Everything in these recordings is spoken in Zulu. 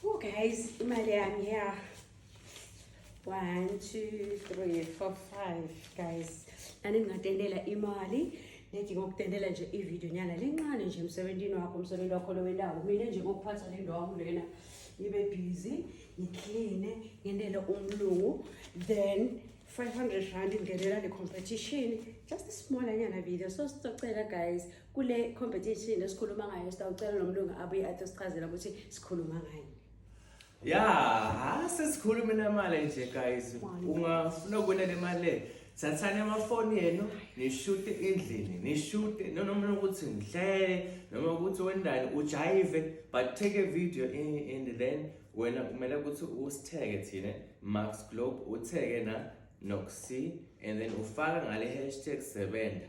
Oh guys, imali yami ya. 1 2 3 4 5 guys. Nani ngingatendela imali. Ngithi ngokutendela nje ivideo nyana lencane nje emsebenzini wakho, umsebenzi wakho lowendawo. Mina nje ngokuphatha le ndawo lena. Ngibe busy, ngicleane, ngendele umlungu. Then 500 rand ingenela le competition just a small anyana video so sicocela guys kule competition esikhuluma ngayo sitawucela nomlungu abuye athi sichazela ukuthi sikhuluma ngani ya ha sesikhuluma namali nje guys ungafuna ukubona le mali le thathani amafoni enu nishute endlini nishute noma ukuthi ngihlele noma ukuthi wendani ujayive but take a video in, in then wena kumele ukuthi usitheke thina max globe utheke na noxy and then ufaka ngale hashtag sebenza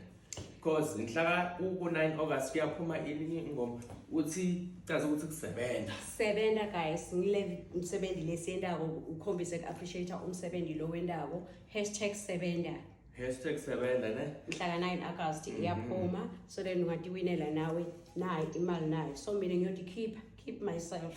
cause ngihlaka ku-9 august kuyaphuma ilinye ingoma uthi caza ukuthi kusebenza sebenza guys ngile msebenzi lesiyendako ukhombise ku-appreciate umsebenzi lo wendako hashtag sebenza hashtag sebenza ne mhlaka 9 august mhm. iyaphuma so then ungatiwinela nawe nayo imali nayo so mina ngiyotikhipha keep myself